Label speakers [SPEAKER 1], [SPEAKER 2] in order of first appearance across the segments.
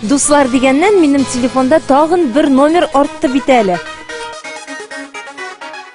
[SPEAKER 1] Дуслар
[SPEAKER 2] дигәннән, минем телефонда тагын бер номер артты бит әле.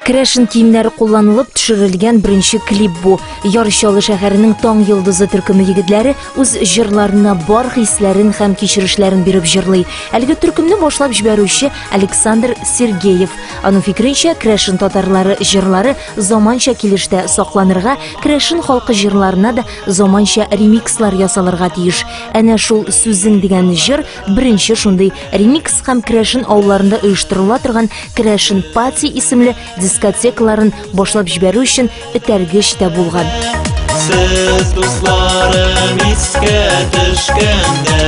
[SPEAKER 2] Крәшен киемнәре кулланылып төшерелгән беренче клип бу. Яр Чаллы шәһәренең таң йолдызы төркеме егетләре үз җырларына бар хисләрен һәм кичерешләрен биреп җырлый. Әлеге төркемне башлап җибәрүче Александр Сергеев. Аның фикеренчә, крәшен татарлары җырлары заманча килештә сакланырга, крәшен халкы җырларына да заманча ремикслар ясалырга тиеш. Әнә шул сүзең дигән җыр беренче шундый ремикс һәм крәшен авылларында оештырыла торган крәшен пати исемле дискотекаларын башлап җибәрү өчен этәргеч тә булган. Сез
[SPEAKER 3] дусларым искә төшкәндә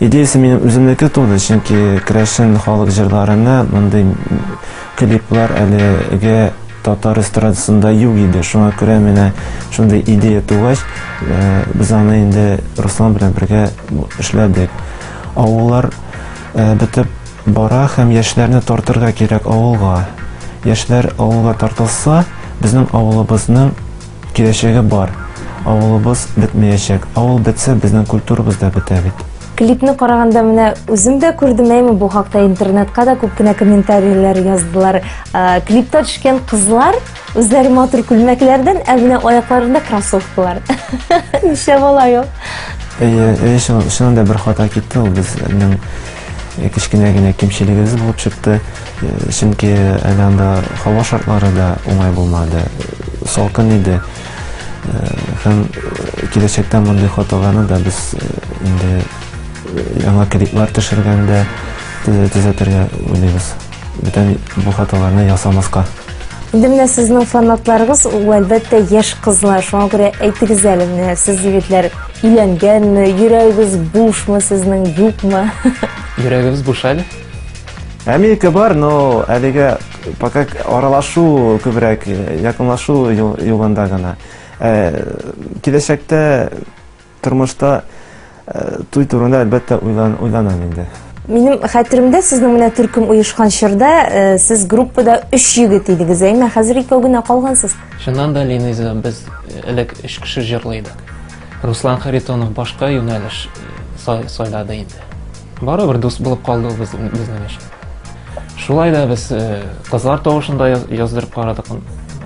[SPEAKER 2] Идеясе минем
[SPEAKER 4] үземнеке туды, чөнки керәшен халык җырларына мондый клиплар әлеге татар эстрадасында юк иде, шуңа күрә менә шундый идея тугач, без аны инде Руслан белән бергә эшләдек. Авыллар бетеп бара һәм яшьләрне тартырга кирәк авылга. Яшьләр авылга тартылса, безнең авылыбызның. Киләчәге бар. Авылыбыз бетмәячәк. Авыл бетсә, безнең культурабыз да бетә бит. Клипны караганда
[SPEAKER 2] менә үзем дә күрдем, әйме бу хакта интернетка да күп кенә комментарийлар яздылар. Клипта төшкән кызлар үзләре матур күлмәкләрдән, ә менә аякларында кроссовкалар. Ничә бала ул? Әйе,
[SPEAKER 4] чынында бер хата китте ул безнең э, кечкенә генә кимчелегебез булып чыкты. Э, чөнки әле анда һава шартлары да уңай булмады. Салкын иде. Э, һәм киләчәктә мондый хаталарны да без инде яңа клиплар төшергәндә төзәтергә уйлыйбыз. бүтән бу хаталарны ясамаска. Инде менә
[SPEAKER 2] сезнең фанатларыгыз ул әлбәттә яшь кызлар. Шуңа күрә әйтегез әле, менә сез егетләр өйләнгәнме, йөрәгегез бушмы сезнең, юкмы? Йөрәгебез
[SPEAKER 5] буш әле. Америка
[SPEAKER 4] бар, но әлегә пока аралашу күбрәк, якынлашу юлында гына. Киләчәктә Тормышта туй турында әлбәттә уйланам инде. Минем хәтеремдә
[SPEAKER 2] сезнең менә төркем оешкан чорда сез группада өч егет идегез, әйме? Хәзер икәү генә калгансыз. Чыннан да, Линиза,
[SPEAKER 5] без элек өч кеше җырлый идек. Руслан Харитонов башка юнәлеш сайлады инде. Барыбер дус булып калды ул безнең өчен. Шулай да без кызлар тавышында яздырып карадык.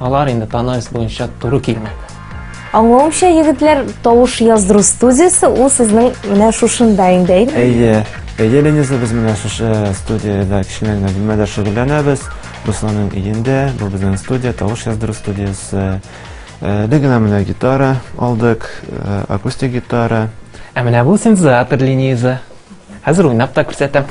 [SPEAKER 5] Алар инде тональность буенча туры килмәде. Аңлавымча,
[SPEAKER 2] егетләр, тавыш яздыру студиясе ул сезнең менә шушында инде, әйме? Әйе. Әйе,
[SPEAKER 4] Лениза, без менә шушы студияда кечкенә генә бүлмәдә шөгыльләнәбез. Русланның өендә, бу безнең студия, тавыш яздыру студиясе. Э, Без генә менә гитара алдык, э, акустик гитара. Ә менә бу
[SPEAKER 5] синтезатор Лениза. Хәзер уйнап та күрсәтәм.